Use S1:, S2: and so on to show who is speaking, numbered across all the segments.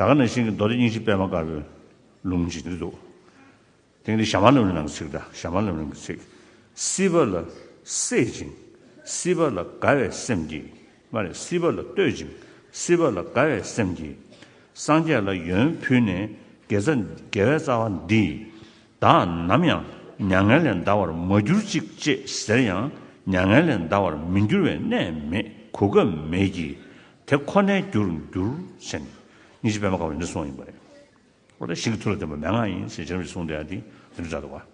S1: ད་ག་ནས་ཤིང་གི་མདོ་དེ་སྙིང་ཤིང་པད་མ་དཀར་པོའི་ལུང་འབྱིན་གྱི་འདུག། དེང་འདི་ཞྭ་མ་ལུམ་ལུམ་ནང་གི་ཚིག་འདྲ་ཞྭ་མ་ལུམ་ལུམ་གྱི་ཚིག། སྲིད་པ་ལ་སྲེད་ཅིང་སྲིད་པ་ལ་དགའ་བའི་སེམས་ཀྱིས། མ་རེད་སྲིད་པ་ལ་བསྟོད་ཅིང་སྲིད་པ་ལ་དགའ་བའི་སེམས་ཀྱིས། སངས་རྒྱས་ལ་ཡོན་ཕུལ་ནས་དགེ་རྩ་དགེ་བའི་རྩ་བ་འདི། བདག་ནམ་ཡང་མྱ་ངན་ལས་འདའ་བར་མ་གྱུར་ཅིག་ཅེས་ཟེར་ཡང་མྱ་ངན་ལས་འདའ་བར་མི་འགྱུར་བའི་གནས་མེད་གོ་སྐབས་མེད་ཀྱིས། དེ་ཁོ་ནའི་རྒྱུར་འགྱུར་ཞེས་ནི། གཉིས་ཀྱི་དཔེ་མ་དཀར་བ་འདི་གསུངས་ཡིན་པ་རེད། འོ་ན་ཤིང་གི་ཐུར་ལ་བརྟེན་པ་མན་ངག་ཡིན་ཞེས་བྱ་རིམ་གྱིས་གསུངས་བསྡད་ཡ་འདི་འདི་འདྲ་འདྲ།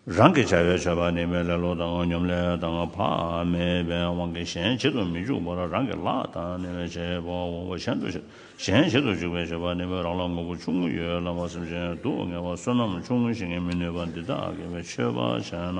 S1: རང་གི་བྱ་བའི་མཆོད་པ་ནི་མོས་ལེ་ལོ་དང་སྙོམ་ལས་དང་བག་མེད་པའི་དབང་གིས་གཞན་བྱེད་དུ་མི་འཇུག་པར་རང་གི་ལག་དང་ནི་བའི་བྱེད་པ་འོང་བ་གཞན་དུ་བྱེད། གཞན་བྱེད་དུ་འཇུག་པའི་བྱེད་པ་ནི་མོས་རང་ལ་ངོ་བོ་ཆུང་ངུ་ཡོད་ལ་བར་སེམས་ཅན་སྡུག་བསྔལ་བ་བསོད་ནམས་ཆུང་ངུ་ཞིག་ངས་མི་ནུས་པ་འདི་དག་གི་བའི་མཆོད་པ་བྱས་ན།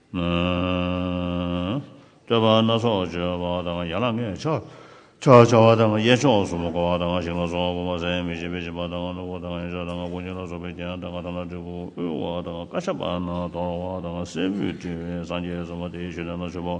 S1: བསྟོད་པ་སྣ་ཚོགས་བརྗོད་པ་དང་ཡན་ལག་ལྔས་ཕྱག་རྒྱ་བྱ་བ་དང་གཡས་ཕྱོགས་སུ་མོ་འཁོར་བ་དང་ཞིང་ལ་སོགས་བུམ་པ་ཟད་མི་ཤེས་པའི་སྦྱིན་པ་དང་ནོར་བུ་དང་ཡོན་ཆབ་དང་ཀུན་སྦྱིན་ལ་སོགས་པའི་རྒྱན་དང་ཁ་ཐང་ལ་དྲིལ་བུ་དབུལ་བ་དང་བཀའ་ཤག་པ་རྣམས་དོར་བ་དང་སྲད་བུས་དྲིལ་བའི་སངས་རྒྱས་སུ་མ་དེའི་ཞུ་བདེ་ན་མཆོད་པ།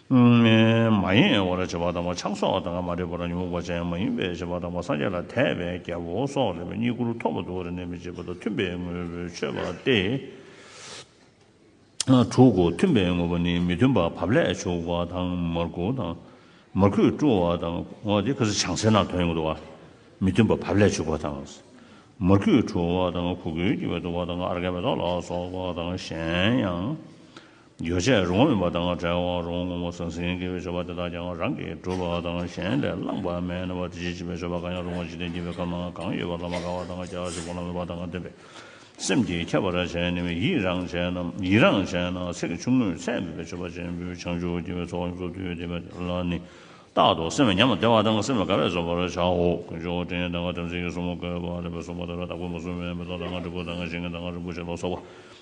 S1: མ་ཡིན་བར་བྱེད་པ་དང་བ་ཕྱག་སོགས་དང་མ་འདྲེས་པར་ཉོན་མོངས་པ་ཅན་མ་ཡིན་པའི་བྱེད་པ་དང་བ་སངས་རྒྱས་ལ་དད་པའི་རྒྱལ་པོ་སོགས་རེ་བའི་རྙེད་བཀུར་ཐོབ་པ་དུ་རེ་ནས་མི་བྱེད་པ་དང་མཐུན་པའི་དངོས་པོའི་མཆོད་པ་སྟེ་དྲུག་གོ། མཐུན་པའི་དངོས་པོ་ནི་མི་མཐུན་པ་བབ་ལས་བྱུགས་པ་དང་མར་ཁུ་དང། མར་ཁུས་བཀྲུ་བ་དང། བྱང་སེར་ནག་དོན་ཡོད་དུ་བ། མི་མཐུན་པ་བབ་ལས་བྱུགས་པ་དང། མར་ཁུས་བཀྲུ་བ་དང་གུ་གུལ་གྱི་བའི་དུ་བ་དང་ཨརྒའི་མེ་ཏོག་ལ་སོགས་པ་དང་གཞན་ཡང། ཡོ་བྱད་རུང་བ་དང་བྲལ་བ་རུང་ངོ་བོ་ཟང་ཟིང་གི་ཆོ་ག་དེ་དག་ཀྱང་རང་གིས་གྲུབ་པ་དང་གཞན་ལས་བླངས་པ་མིན་པར་དེ་བཞིན་གཤེགས་པའི་ཆོ་ག་གང་ཡང་རུང་བ་འཇིག་རྟེན་སྐྱེ་བའི་སྐབས་ན་གང་ཡོད་པ་ལ་མ་དགའ་བ་དང་སྐྱ་ཞེས་བོགས་འབྱུང་བ་དང་ལྡན་པའི་སེམས་ཀྱིས་ཁྱབ་པར་བྱས་ནས་ཡིད་རངས་བྱས་ན་ཡིད་རངས་བྱས་ན་ཚེགས་ཆུང་ངུས་ཚད་མེད་པའི་མཆོད་པ་ཆེན་པོས་བྱང་ཆུབ་སྐྱེ་བའི་ཚོགས་ཀྱི་གཙོ་བསྡུས་བསྡུས་པ་དེ་ལ་ནི་རྟག་ཏུ་སེམས་ཉམས་བདེ་བ་དང་སེམས་དགའ་བས་རྫོགས་པར་བྱའོ། ཀུན་སྦྱོར་བ་དྲིན་དང་དམ་ཚིག་གི་གསུམ་མོ་བསྐལ་པ་ལས་བསྲུང་བ་དང་ར་བཏགས་པོ་མ་བསྲུང་བའི་མེ་ཏོག་དང་དྲིལ་བུ་དང་ཞིང་ཁ་དང་རིན་པོ་ཆེ་ལ་སོགས་པ་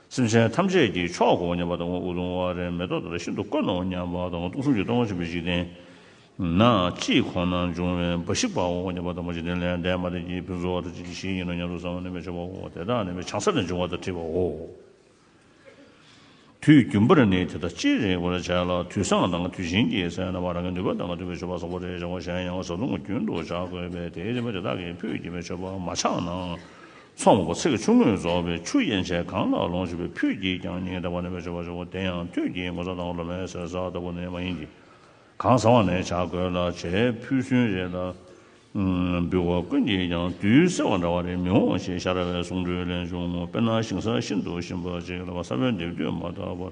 S1: སེམས་ཅན་ཐམས་ཅད་ཀྱི་མཆོག་གོ་སྙམ་པ་དང་དབུགས་དབྱུང་བ་རེ་མེད་དོ་ད་ལྟ་ཤིན་ཏུ་དཀོན་ནོ་སྙམ་པ་དང་སྟོང་གསུམ་གྱི་སྟོང་བ་ཆེན་པོའི་འཇིག་རྟེན་ན་ཅིའི་ཁོང་ན་འབྱུང་བའི་འབའ་ཞིག་པའོ་སྙམ་པ་དང་འཇིག་རྟེན་ལས་འདས་མ་འདས་ཀྱི་ཕུན་ཚོགས་དེ་ཅི་ཇི་བཞིན་ཡིན་ནོ་སྙམ་དུ་བསམ་བ་ནི་མི་བྱ་བའོ་དེ་དག་ནི་མི་བྱང་ས་ལས་འབྱུང་བ་དང་འཁྲིལ་བའོ། དུས་རྒྱུན་པར་ནི་དེ་དག་ཅི་རིགས་པར་བྱས་ལ་དུས་བཟང་དང་དུས་ཆེན་གྱི་སའི་རྣམ་པ་རང་གི་ནུས་པ་དང་མཐུན་པའི་མཆོད་པ་བཟང་པོ་རེ་བྱ་བ་གཞན་ཡང་བཟའ་བཏུང་རྒྱུན་དུ་བྱ་དགོས་པས་དེའི་རིམ་པ་དེ་དག་གིས་ཕུད་ཀྱི་མི་མཆོད་པ་མ་ཆགས་ན་མཚོ་མགོ་ཚེ་གེ་ཆུང་ངུས་རྫོགས་པའི་ཆུ་ཡན་ཆད་གང་ལ་ལོངས་སྤྱོད་པའི་ཕུད་ཀྱིས་ཀྱང་ཉིན་རེ་བ་ནས་བེད་སྤྱོད་པར་བྱེད་དགོས་དེ་ཡང་དུས་ཀྱི་ངོ་ཚ་དང་ལོ་མའི་ཟས་ཟ་ལྟ་བུ་ནི་མ་ཡིན་གྱི། གང་བཟང་བ་ནས་བྱ་རྒོད་ལ་བྱའི་ཕུད་སུན་རེ་ལ་འབུལ་བ་ཀུན་གྱིས་ཀྱང་དུས་སེར་བ་འདྲ་བ་རེ་མི་འོང་ཞེས་ཤ་ར་བའི་གསུང་སྒྲོས་ལས་འབྱུང་ངོ་དཔེར་ན་ཞིང་ས་ཤིན་ཏུ་ཞིམ་པ་ཅིག་ལ་བ་ས་བོན་འདེབས་དུས་མ་དག་པར་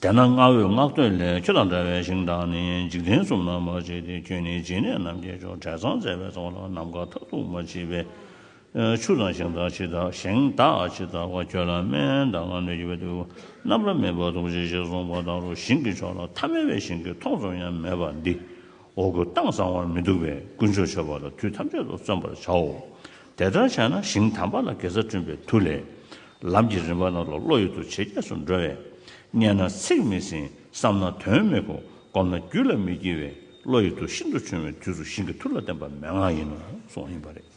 S1: དེས་ན་བསྔགས་འོས་བསྔགས་བསྟོད་ལས་ཁྱོད་དང་འདྲ་བའི་ཞིང་དང་ནི་འཇིག་རྟེན་གསུམ་ན་མ་མཆིས་ཏེ་ཁྱོད་ནི་སྦྱིན་གནས་རྣམས་ཀྱི་ཆོ་འབྲས་ཚང་མཛད་པའི་ཚོགས་ལ་ནམ་མཁའ་མཐའ་གཏུགས་མ་མཆིས་པས། ཆུ་དང་ཞིང་དག་ཇི་ལྟ་ཞིང་དག་ཇི་ལྟ་བ་ཁྱོད་ལ་སྨན་དང་སྣོད་ཀྱི་བདུད་རྣམས་ལ་མེད་པར་ཐུགས་རྗེ་ཆེ་གསུངས་པ་དང་རུ་ཤིང་གི་མཆོག་ལ་ཐ་མལ་བའི་ཞིང་གི་མཐོང་ཙམ་ཡང་མེད་པ་འདི། འོ་སྐོལ་སྟངས་བཟང་བར་མི་འདུག་པས་དཀོན་མཆོག་མཆོད་པ་ལ་དུས་ཐམས་ཅད་དུ་བརྩོན་པར་བྱའོ། དེ་ལྟར་བྱས་ན་ཞིང་དམ་པ་ལ་དགེ་རྩ་བསྐྲུན་པའི་མཐུ་ལས། ལམ་གྱི་རིམ་པ་རྣམས་ལ་བློ་ཡུལ་དུ་ཇེ་རྒྱས་སུ་འགྲོ་བས། མཉན་ན་ཚེགས་མི་ཟིན་བསམ་ན་དོན་མི་གོ་བསྒོམ་ན་རྒྱུད་ལ་མི་སྐྱེ་བས་བློ་ཡུལ་དུ་ཤིན་ཏུ་ཆུང་བའི་དུས་སུ་ཞིང་གི་མཐུ་ལ་བརྟེན་པ་མན་ངག་ཡིན་ནོ་གསུངས་ཡིན་པ་རེད།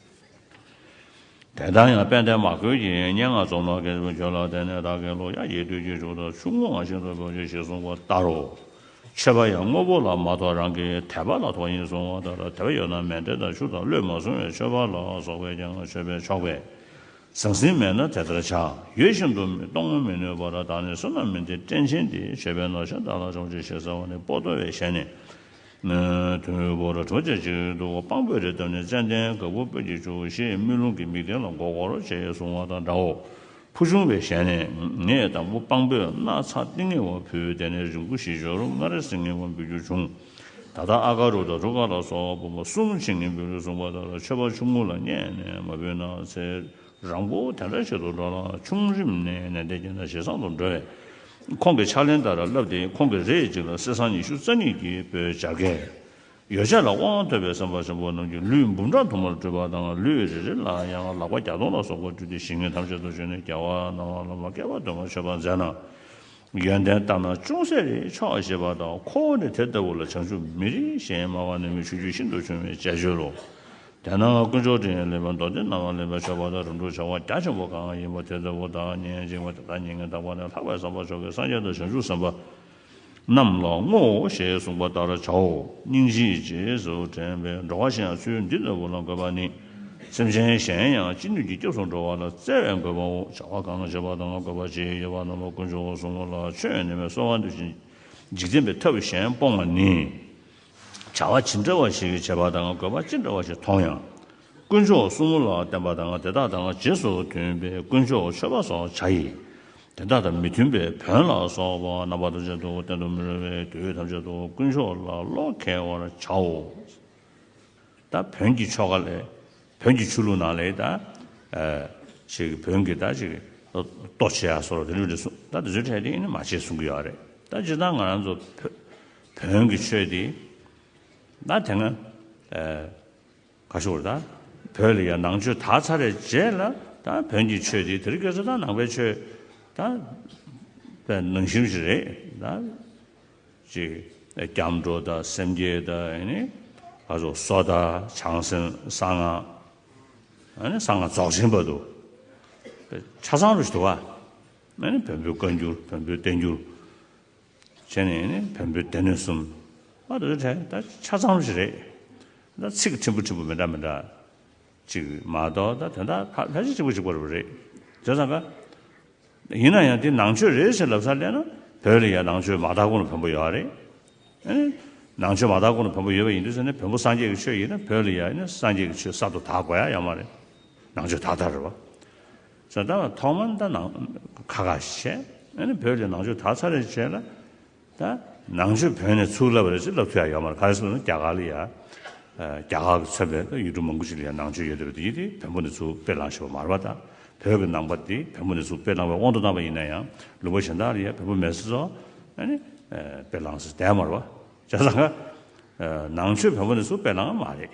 S1: དེ་ལྟར་ཡང་དཔལ་ལྡན་མ་ཁོལ་གྱིས་སྙན་ངག་རྩོམ་ལ་དགེ་བའི་ཆོས་ལ་བརྟེན་ནས་བདག་གི་བློ་ཡ་གྱལ་དུས་ཀྱི་ཆུ་ཟླ་ཆུང་ངུ་འང་ཤིན་ཏུ་དཀོན་ཅིག་ཞེས་གསུངས་པ་ལྟར་རོ། མཆོད་པ་ཡང་དངོས་པོ་ལ་མ་གཏོགས་རང་གི་དད་པ་ལ་གཏོགས་ཡིན་གསུང་བ་ལྟར་དད་པ་ཡོད་ན་མལ་སྤྲེལ་དང་ཆུ་དང་བློས་མ་བཟུང་བའི་མཆོད་པ་ལ་སོགས་པས་ཀྱང་མཆོད་པས་ཆོག་པས། ཟང་ཟིང་མེད་ན་དེ་ལྟར་བྱ། ཡོད་བཞིན་དུ་གཏོང་ངོ་མི་ནུས་པར་བདག་ནི་བསོད་ནམས་མིན་ཏེ་སྤྲིན་ཆེན་འདི་བྱེད་པའི་ནོར་ཆེན་བདག་ལ་ཆོག་ཅིག་ཞེས་ཟེར་བ་ནི་སྤོ་ཏོ་བའི་ཞལ་ནས། དུས་འཁོར་གྲོ་རྒྱལ་གཅིག་ཏུ་དཔང་པོའི་རེ་བཏབ་ནས་ཙན་དན་ག་བུར་སྤོས་ཀྱིས་བྱུགས་ཞེས་དམུས་ལོང་གི་མིག་ལྡན་ལ་མགོ་སྐོར་བྱེད་གསུང་བ་དང་འདྲའོ། ཕུ་ཆུང་བའི་ཞལ་ནས་ངས་བདག་པོ་དཔང་པོས་སྣ་ཚགས་ཏིང་ངེ་བ་ཕུལ་དེ་ནས་རིང་པོ་ཞིག་ཞོར་མངའ་རིས་སུ་ངེས་པ་འབུལ་རྒྱུ་བྱུང། ད་ལྟ་ཨ་ཀ་རུ་དང་ཐུ་ཀ་ལ་སོགས་སྤུན་པ་གསུམ་ཕྱིན་ངེས་འབུལ་རུ་གསུངས་པ་ལྟར་ཆོས་པ་ཆུང་ངུ་ལ་མཉན་ནས་མ་འབུལ་ན་ཚེ་རང་པོ་དེ་འདྲ་ཞིག་ཏུ་འགྲོ་ལ་ཆུང་རིམ་ནས་ནན་ཏན་བསྐྱེད་ན་ཞེ་སང་དུ་འགྲོ་བས། ཁོང་གི་ཕྱག་ལེན་ལྟར་བསླབས་ཏེ་ཁོང་གི་རེས་གཅིག་ལ་གསེར་སྲང་ཉི་ཤུ་རྩ་གཉིས་ཀྱི་སྤོས་སྦྱར་སྐལ། ཡོ་བྱད་ལ་དབང་ཐོབ་པའི་སེམས་དཔའ་ཆེན་པོ་རྣམས་ཀྱིས་ལུས་འབུམ་ཕྲག་དུ་མར་སྤྲུལ་པ་དང་ལུས་རེ་རེ་ལ་ཡང་ལག་པ་བརྒྱ་སྟོང་ལ་སོགས་པ་བཀྲུས་ཏེ་ཞིང་ངོས་ཐམས་ཅད་དུ་བྱོན་ནས་རྒྱལ་བ་སྣང་བ་ལ་མ་སྐྱེས་པ་དོན་གོ་ཆོད་པར་མཛད་ན། ཡོན་ཏན་ལྟར་ན་ཅུང་ཟད་རེ་ཆོག་ཞེས་པ་དང་ཁོ་བོ་ནི་དེ་ལྟ་བུ་ལ་བྱང་ཆུབ་མི་རིགས་གཞན་སྨྲ་བ་ནི་མི་ཆོས་རྒྱུད་ཤིན་ཏུ་ཆུང་བའི་བཅས་བཅོལ་ལོ། དེས་ན་དཀོན་མཆོག་དྲིན་ཡང་ལེན་པ་མདོ་སྡེ་རྣམས་ལ་ལེན་པར་ཕྱོགས་པ་དང་རིམ་གྲོ་བྱ་བ་རྒྱ་ཆེན་པོ་གང་ཡིན་པ་དེ་ལྟ་བུ་དག་ཉན་ཅིང་བ་དེ་དག་ཉན་ངེས་དག་པ་ནི་ལྷག་པའི་བསམ་པ་མཆོག་གི་སངས་རྒྱས་དང་བྱང་ཆུབ་སེམས་དཔའ་རྣམས་ལ་བསྔོའོ་ཞེས་གསུངས་པ་ལྟར་བྱའོ། སྙིང་རྗེའི་རྗེས་སུ་དྲན་པའི་འགྲོ་བ་གཞན་ཚུལ་འདི་ལྟ་བུ་ལ་འགོད་པ་ནི། སེམས་ཅན་གཞན་ཡང་ཅི་ནུས་ཀྱིས་སྐྱབས་སུ་འགྲོ་བ་ལ་བརྩེ་བས་འགོད་པའོ། བྱ་བ་གང་བྱེད་པ་དང་བསྒོས་པ་བཅས་ཡོད་པ་རྣམས་ལ་དཀོན་མཆོག་གསུམ་མོ་ལ་ཆོས་ཉན་པའི་གསོལ་བ་འདེབས་ཤིང། འཇིག་རྟེན་པའི་ཐབས་གཞན་སྤོང་བ་ནི། བྱ་བ་ཇི་འདྲ་བ་ཞིག་བྱེད་པ་དང་བསྒོས་པ་ཅི་འདྲ་བ་ཞིག་མཐོང་ཡང། དཀོན་མཆོག་གསུམ་ལ་བརྟེན་པ་དང་དེ་དག་དང་རྗེས་སུ་མཐུན་པའི་དཀོན་མཆོག་མཆོད་པ་སོགས་བྱ་ཡི། དེ་དག་དང་མི་མཐུན་པའི་བོན་ལ་སོགས་པ་རྣམ་པ་ཐམས་ཅད་དུ་བསྟེན་དུ་མི་རུང་བས་དུས་ཐམས་ཅད་དུ་དཀོན་མཆོག་ལ་བློ་ཁེལ་བར་བྱའོ། ད་བོན་གྱི་ཆོ་ག་ལས། བོན་གྱི་ཆོས་ལུགས་ནང་ལས། ད་ཅིག་བོན་གྱི་ད་ཅིག་ལྟོ་འཕྱེ་ཡ་སོགས་དེ་འདྲ་འདྲ་གསུངས། ད་དེ་ཚོའི་གྲས་དེ་ནི་མ་བྱེད་གསུང་གི་ཡོད་རེད། ད་སྤྱིར་བཏང་ང་རང་ཚོ་བོན་གྱི་ཆོས་དེ། ད་དེ་སྔ། ག་ཤོར་དང། བོད་ལ་ཡང་ནང་ཆོས་དར་ཚར་རེད་རྗེས་ལ་དང་བོན་གྱི་ཆོས་དེ་དེར་སྐྱོད་ས་དང་ནང་པའི་ཆོས་དང། པའི་ནང་ཞིམ་ཞིག་རེད་དང། ཅིག་སྐྱབས་འགྲོ་དང་སེམས་བསྐྱེད་དང་ཡེ་ནས་ག་ཚོགས་གསོ་དང་བྱང་སེམས་གསང་སྔགས། ཡེ་ནས་གསང་སྔགས་རྫོགས་ཆེན་པ་དུ། པའི་ཆ་ཚང་རུ་ཞིག་དུ་བ། ཡེ་ནས་བོན་པོའི་བཀའ་འགྱུར་བོན་པོའི་བསྟན་འགྱུར། བྱས་ནས་ནི་བོན་པོའི་སྡེ་སྣོད་གསུམ། ཨ་དེ་དེ་ད་ཆ་ཙམ་ཞིག་རེད། ད་ཚིག་ཕྲན་བུ་ཕྲན་བུ་མི་འདྲ་མི་འདྲ་ཅིག་མ་གཏོགས་ད་དོན་དག་ཕལ་ཆེར་གཅིག་པོ་གཅིག་པོ་རེད་བ་རེད། དེ་ཙམ་ཀ། ཡིན་ན་ཡང་དེ་ནང་ཆོས་རེད་ཞེས་ལབ་སར་སླེབས་ན་བོད་ལ་ཡང་ནང་ཆོས་མ་དག་གོང་ན་བོན་པོ་ཡོད་རེད། ནང་ཆོས་མ་དག་གོང་ན་བོན་པོ་ཡོད་པ་ཡིན་དུས་ཟེར་ན་བོན་པོ་སངས་རྒྱས་ཀྱི་ཆོས་ཡིན་ན་བོད་ལ་ཡང་ནི་སངས་རྒྱས་ཀྱི་ཆོས་གསར་དུ་དག་དགོས་ཡ་ཡང་མ་རེད། ནང་ཆོས་དག་དག་རེད་བ། བཟའ་ཟླ་ལ་ཐོག་མར་ད་ནང་ཁ་ཁ་བྱས། ཨ་ནི་བོད་ཀྱི་ནང་ཆོས་དག་ཚར་རེ་བྱས་ལ། ད་ནང་ཆོས་བོད་ནས་ཚུགས་ལབ་རེ་ཅིག་ལབ་ཚོད་ཡ་ཡོད་མ་རེད་ག་རེ་ཟེར་ན་རྒྱ་གར་ལ་ཡ། རྒྱ་གར་གྱི་ཚོན་པའི་ད་ཡུལ་གྲུ་མང་པོ་ཅིག་ལ་ཡ་ནང་ཆོས་ཡོད་དེ་ཡི་དེ་བོན་པོ་ནས་ཚུགས་དཔེ་བླངས་ཞེས་པ་མ་རེད་པ་ད། བོད་ཀྱི་ནང་པ་དེ་བོན་པོ་ནས་ཚུགས་དཔེ་བླངས་པའི་དབང་དུ་བཏང་བ་ཡིན་ན་ཡང་ལུང་པ་གཞན་དག་ལ་ཡ་བོན་པོ་མེད་ཟེར་སོ། ཨ་ནི། དཔེ་བླངས་ཟེར་དེ་ཡ་མ་རེད་པ། བྱས་ཙང་ནང་ཆོས་བོན་པོ་ནས་ཚུགས་དཔེ་བླངས་མ་རེད།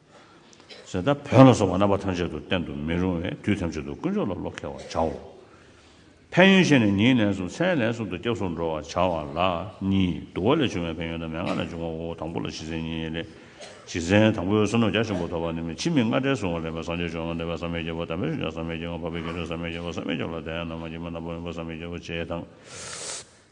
S1: ཟད་དང་བོན་ལ་སོགས་པ་རྣམ་པ་ཐམས་ཅད་དུ་བསྟན་དུ་མི་རུང་བས་དུས་ཐམས་ཅད་དུ་དཀོན་མཆོག་ལ་བློ་ཁེལ་བར་བྱའོ། ཕན་ཡོན་ཤེས་ནས་ཉིན་ལན་གསུམ་མཚན་ལན་གསུམ་དུ་སྐྱབས་སུ་འགྲོ་བར་བྱ་བ་ལ་གཉིས། བསྡུ་བ་ལས་བྱུང་བའི་ཕན་ཡོན་དང་མན་ངག་ལས་འབྱུང་བའོ། དང་པོ་ལ་བཞི་ཚན་གཉིས་ལས། བཞི་ཚན་དང་པོའི་བསོད་ནམས་བརྒྱ་ཆེན་པོ་ཐོབ་པ་ནི་མི་འཆི་མི་མངལ་སྐྲའི་གཟུགས་ངོར་ལེན་པའི་སངས་རྒྱས་ཆོས་ལ་འདོད་པའི་བསམ་མེད་རྒྱལ་པོ་དམ་པའི་ཤུགས་ཀྱང་བསམ་མེད་རྒྱལ་ཁམས་འཕགས་པའི་རྒྱལ་ཁྲོད་བསམ་མེད་རྒྱལ་པོ་བསམ་མེད་རྒྱལ་པོ་ལ་དད་ཡང་ནམ་མ་སྐྱེས་མ་ནམ་པ་བསམ་མེད་རྒྱལ་པོ་བྱེད་དང།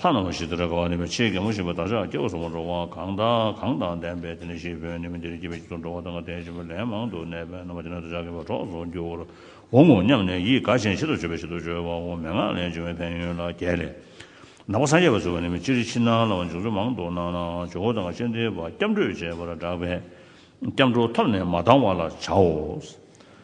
S1: ལྷ་རྣམས་ལ་ཞི་དུལ་དགའ་བ་ནུས་པའི་ཆེ་གེ་མོ་བཞིན་པ་བདག་ཅག་སྐྱེ་བོ་གསུམ་པོ་འགྲོ་བ་གང་དང་གང་དང་ལྡན་པས་དེ་ནས་ཤི་འཕོས་ནས་མི་འདིར་སྐྱེས་པའི་དཀྱིལ་དུ་འགྲོ་བ་དང་དེ་བཞིན་པ་ལན་མང་དུ་གནས་པའི་རྣམ་པ་དེ་ནི་བདག་ཅག་གི་བ་གྲོགས་སུ་འགྱུར་བར་འོང་ངོ་སྙམ་ནས་ཡིད་དགའ་ཞིང་ཤིན་ཏུ་མཆོད་པའི་ཤིན་ཏུ་བརྗོད་པའོ་མན་ངག་ལས་བྱུང་བའི་ཕན་ཡོན་ལ་རྒྱལ་ལས། ནག་པོ་སངས་རྒྱས་པར་གསོལ་བ་ནི་མི་ཅི་རིགས་ཕྱི་ནང་ལ་བ་འབྱུང་ཚུལ་མང་དུ་སྣང་ནའང་ཇོ་བོ་དང་སྤྱན་འདྲེན་པ་སྐྱབས་འགྲོས་བཅས་པར་བསྒྲགས་པས། སྐྱབས་འགྲོ་ཐབས་ནས་མ་བཏང་བ་ལ་བྱའོ།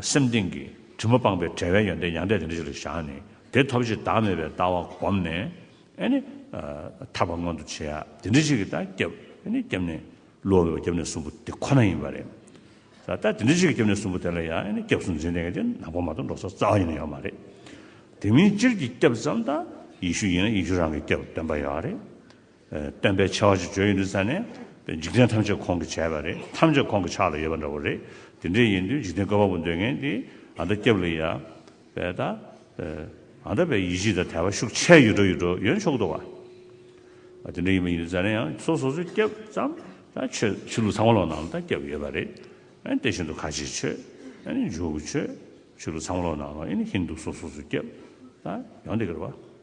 S1: སེམས་གཏིང་གི་དྲི་མ་སྤངས་པའི་བྲལ་བའི་ཡོན་ཏན་ཡང་དག་དེ་འདྲ་ཞིག་ལ་བཞག་ནས་དེ་ཐོབ་ཕྱིར་བདག་མེད་པའི་ལྟ་བ་བསྒོམས་ནས། ནི། ཐར་བ་མངོན་དུ་བྱེད་ཡ་དེ་འདྲ་ཞིག་གི་ལྟ་རྒྱབ། ནི། རྒྱབ་ནས་བསླུ་བ་བས་རྒྱབ་ནས་གསུམ་པོ་དེ་ཁོ་ན་ཡིན་པ་རེད། ལྟ་དེ་འདྲ་ཞིག་གི་རྒྱབ་ནས་གསུམ་པོ་དེ་ལ་ཡང་ནི་སྐྱབས་སུ་འཛིན་དེ་ནག་པོ་མ་གཏོགས་འགྲོ་ས་རྩ་བ་ཡིན་ན་ཡོད་མ་རེད། དེ་མིན་སྤྱིར་གྱི་སྐྱབས་ཙམ་དང་ཡེ་ཤུ་ཡིན་ན་ཡེ་ཤུ་རང་གི་སྐྱབས་སྟོན་པ་ཡོད་རེད། སྟོན་པས་ཆེ་བ་ཞིག་བརྗོད་ཡོད་འདུག་ས་ནས། འཇིག་རྟེན་ཐམས་ཅད་ཁོང་གི་བྱས་པ་རེད། ཐམས་ཅད་ཁོང་གི་ཕྱག་ལ་ཡོད་པ་འདྲ་བོ་རེད། དེ་འདྲས་ཡིན་དུས་འཇིག་རྟེན་བཀའ་བབ་པོ་འདོད་མཁན་དེ་ཨ་མདའ་སྐྱབས་ལ་ཡ། བས་ད། ཨ་མདའ་བས་ཡིད་ཆེས་དང་དད་པ་ཤུགས་ཆེ་ཡོད་འགྲོ་ཡོད་འགྲོ་ཡོད་ཆོག་འདུག་བ། དེ་འདྲས་ཡིན་པ་ཡིན་དུས་ས་ནས་ཡང་སོ་སོ་སོའི་སྐྱབས་ཙམ། ད་ཆོས་ཆོས་ལུགས་ཚང་མ་ལོག་ནང་ལ་ད་སྐྱབས་ཡོད་པ་རེད། དེ་བཞིན་དུ་ཁ་ཆེའི་ཆོས། འཇུག་གི་ཆོས། ཆོས་ལུགས་ཚང་མ་ལོག་ནང་ལ་ཨིན་ཧིན་དུ་སོ་སོ་སོའི་སྐྱབས། ད་ཡང་དེ་གར་བ།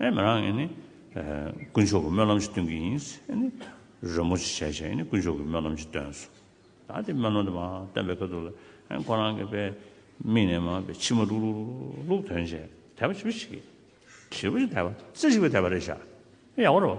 S1: ཨེ་མི་རང་ཨེ་ནི། དཀོན་མཆོག་གི་སྨོན་ལམ་ཞིག་སྟོན་གྱི་ཡིན། ཨེ་ནི། རོལ་མོ་ཞིག་བྱས་བྱས་ཨེ་ནི་དཀོན་མཆོག་གི་སྨོན་ལམ་ཞིག་སྟོན་སོང། ད་དེ་སྨོན་ལམ་དེ་མ་སྟོན་པའི་སྐབས་འདུག་ལ། ཨེ་ཁོ་རང་གི་པའི་མིག་ནས་མ་པའི་མཆི་མ་ལྷུག་ལྷུག་ལྷུག་ལྷུག་དོན་བྱས་དད་པ་བྱིས་པ་ཞིག་གིས། བྱིས་པ་ཞིག་དད་པ་རྩེ་གཅིག་པའི་དད་པ་རེད་བྱ། ཡག་པོ་རེད་བ།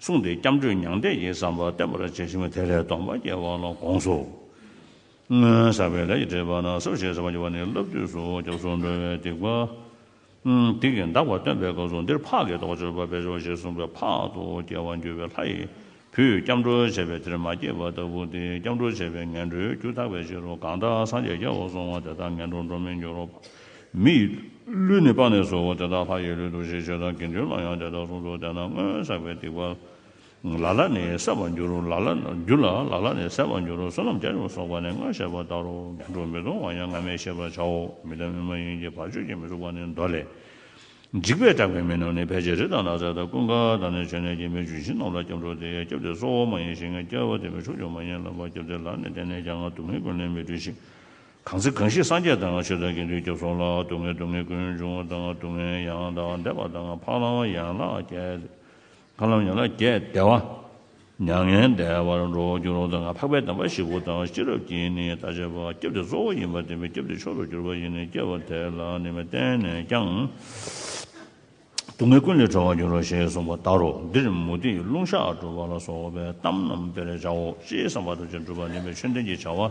S1: གསུངས་ཏེ་སྐྱབས་འགྲོའི་མྱང་འདས་ཀྱི་བསམ་པ་བརྟན་པར་བྱས་ཤིང་དེ་ལས་སྟོང་པ་སྐྱེ་བ་ལ་དགོངས་སོ། སྔོན་བསགས་པའི་ལས་ཀྱི་འབྲེལ་པ་ན་སོ་ཞེས་བྱ་བ་བགྱི་བ་ནི་བསླབ་བཏུས་སུ་སྐྱབས་སུ་འགྲོ་བའི་སྡིག་པ། སྡིག་གིས་འདག་པ་སྟོན་པའི་སྐབས་སུ་འདིར་འཕགས་ཀྱི་རྟོགས་སྤྱོད་པ་བས་སྦྱོར་ཞེས་གསུངས་པས་འཕགས་དུ་སྐྱེ་བར་འགྱུར་བའི་ལྷ་ཡི་བུས་སྐྱབས་འགྲོ་བྱས་པས་དེར་མ་སྐྱེས་པ་ལྟ་བུ་སྟེ་སྐྱབས་འགྲོ་བྱས་པའི་ངན་འགྲོའི་རྒྱུ་དག་པའི་ཕྱིར་རོ་གང་དག་སངས་རྒྱས་རྒྱལ་བར་སོང་བ་དེ་དག་ངན་འགྲོར་འགྲོ་མི་འགྱུར་རོ། མི་ཡི་ལུས་ནི་སྤངས་ནས་སོ། དེ་དག་ལྷ་ཡི་ལུས་འདུ་ཤེས་བྱེད་དང་དགེ་འདུན་ལ་ཡང་དེ་ལྟར་གསུངས་སོ། དེ་རྣམས་སྔོན་བསགས་པའི་སྡིག་པ། ལ་ལ་ནི་བསལ་བར་འགྱུར་རོ། ལ་ལ་འགྱུར་ལ། ལ་ལ་ནི་བསལ་བར་འགྱུར་རོ། བསོད་ནམས་བརྒྱ་བྱིན་སོགས་པ་ནི་སྔར་བཤད་པ་ལྟར་རོ། དུག་སྦྲུལ་མི་གཏོང་བ་ཡང་སྔ་མས་ཤེས་པར་བྱའོ། མི་དང་མི་མ་ཡིན་གྱི་བར་གཅོད་ཀྱིས་མི་ཚུགས་པ་ནི་མདོ་ལས། འཇིགས་པས་སྐྲག་པའི་མི་རྣམས་ནི་ཕལ་ཆེར་རི་དང་ནགས་ཚལ་དང་ཀུན་དགའ་དང་ནི་བྱེ་ནས་ཀྱི་མིའི་ལྗོན་ཤིང་རྣམས་ལ་སྐྱབས་འགྲོ་སྟེ་སྐྱབས་དེ་གཙོ་བོ་མ་ཡིན་ཞིང་སྐྱབས་དེ་མི་ཕྱུགས་ཀྱང་མ་ཡིན་ལ་བ་སྐྱབས་དེ་ལ་ནི་བརྟེན་ནས་ཀྱང་དུག་མི་ཀུན་ལས་མི་གྲོལ་ཞིང། གང་ཚེ་གང་ཞིག་སངས་རྒྱས་དང་ཆོས་དང་དགེ་འདུན་སྐྱབས་སོང་ལ་སྡུག་བསྔལ་སྡུག་བསྔལ་ཀུན་འབྱུང་བ་དང་སྡུག་བསྔལ་ཡང་དག་འདས་པ་དང་འཕགས་ལམ་ཡན་ལག་བརྒྱད། འཕགས་ལམ་ཡན་ལག་བརྒྱད་འདས་བ། མྱ་ངན་འདས་པར་འགྲོ་བར་འགྱུར་བ་དང་འཕགས་པའི་དམ་པ་བཞི་པོ་དང་ཤེས་རབ་ཀྱིས་ནི་ལྟ་བྱེད་པ་སྐྱབས་དེ་གཙོ་བོ་ཡིན་པར་བསྟན་པས་སྐྱབས་དེ་མཆོག་ཏུ་གྱུར་པ་ཡིན་ནོ་སྐྱེ་བ་དེ་ལ་ནི་མི་བརྟེན་ནས་ཀྱང་སྡུག་བསྔལ་ཀུན་ལས་གྲོལ་བར་འགྱུར་རོ་ཞེས་གསུངས་པ་ལྟར་རོ། འདིར་མུ་ཏིག་རླུང་ཞགས་སྒྲུབ་པ་ལ་སོགས་པའི་གཏམ་རྣམས་དཔེར་བྱའོ། ཅེས་བསམ་པ་ཐམས་ཅད་འགྲུབ་པར་ནུས་པའི་ཆོས་ལྡན་གྱི་བྱ་བ།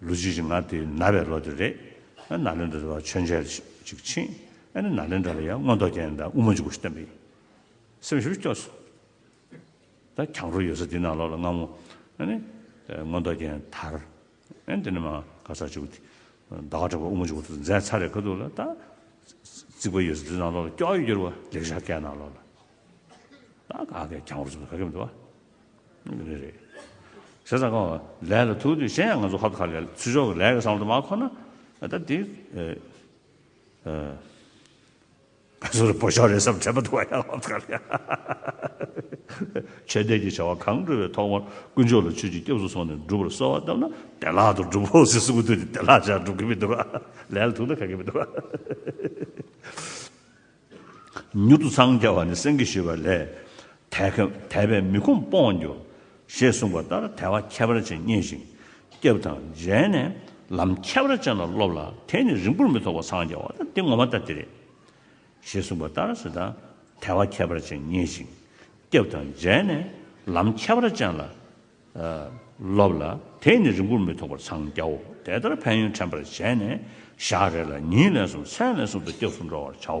S1: ལོ་རྗེས་ཀྱི་ང་དེ་ན་བའི་ལོ་དེ་རེད། ཨ་ན་ལེན་དྲ་ལ་མཆོད་མཇལ་ཅིག་ཕྱིན། ཨ་ན་ན་ལེན་དྲ་ལ་ཡང་མངོན་རྟོགས་རྒྱན་དང་དབུ་མ་འཇུག་སྒོ་ཞིག་བསྟན་པ་ཡིན། སེམས་ཤུགས་སྐྱོ་སོང། ད་གྱང་རོ་ཡོད་ས་འདི་ན་ལོག་ལ་སྔ་མོ། ཨ་ནི། མངོན་རྟོགས་རྒྱན་དར། ཨ་འདི་ནི་མ་ག་ཚར་འཇུག་དེ། ཟླ་བ་དྲེགས་པ་དབུ་མ་འཇུག་སྒོ་འཛད་ཚར་རེད་ག་འདུག་ལ་ད། རྩིག་པ་ཡོད་ས་འདི་ན་ལོག་ལ་སྐྱོ་ཡོད་རྒྱུར་བ་ལེགས་བཞག་སྐད་ན་ལོག་ལ། ད་ག་གྱང་རོ་འཛུག་ན་ག་གེ་མི་འདུག་བ། རེད་རེད། བྱས་ཙང་ཁོ་ལས་ལ་ཐུག་དུས་གཞན་ཡང་ང་ཚོ་ཧ་ཁ་ལས་ལ་ཚུར་ཤོག་གི་ལས་ཀ་བཟང་པོ་དུ་མ་ཁོ་ན་ད་དེ་ང་ཚོ་རེ་བོ་ཤོག་རེ་བསམ་དྲན་པ་དུ་བ་ཡང་ཧ་ཁ་ལས་ཆོས་དད་ཀྱི་བྱ་བ་གང་བསྒྲུབ་པའི་ཐོག་མར་དཀོན་མཆོག་ལ་ཆོས་ཀྱི་སྐྱབས་སུ་སོང་ནས་སྒྲུབ་པར་གསོལ་བ་བཏབ་ན་བདེ་ལག་ཏུ་འགྲུབ་བོ་ཟེར་གསུང་གི་དུས་ནས་བདེ་ལག་ཅག་འགྲུབ་གི་མི་འདུག་ལས་ལ་ཐུག་ན་ཁག་གི་མི་འདུག། མྱུར་དུ་འཚང་རྒྱ་བ་ནི་སེང་གེ་ཞུས་པ་ལས། དད་པས་མི་ཁོམ་སྤོངས་འགྱུར། ཞེས་གསུངས་པ་ལྟར་དད་བ་ཁྱད་པར་ཅན་རྙེད་ཅིང། སྐྱབས་དང་མཇལ་ནས་ལམ་ཁྱད་པར་ཅན་ལ་སློབ་ལ་དེས་ནི་རིང་པོར་མི་ཐོགས་པར་འཚང་རྒྱ་བ་དང་འདི་ངོ་མ་ལྟ་དེ་རེད། ཞེས་གསུངས་པ་ལྟར་ཞེ་སྡང་དད་བ་ཁྱད་པར་ཅན་རྙེད་ཅིང། སྐྱབས་དང་མཇལ་ནས་ལམ་ཁྱད་པར་ཅན་ལ། ལོབས་ལ། དེས་ནི་རིང་པོར་མི་ཐོགས་པར་འཚང་རྒྱའོ། དེ་ལྟར་ཕན་ཡོན་དྲན་པར་བྱས་ནས། ཞག་རེ་ལ་ཉིན་ལན་གསུམ་མཚན་ལན་གསུམ་དུ་སྐྱབས་སུ་འགྲོ་བར་བྱའོ།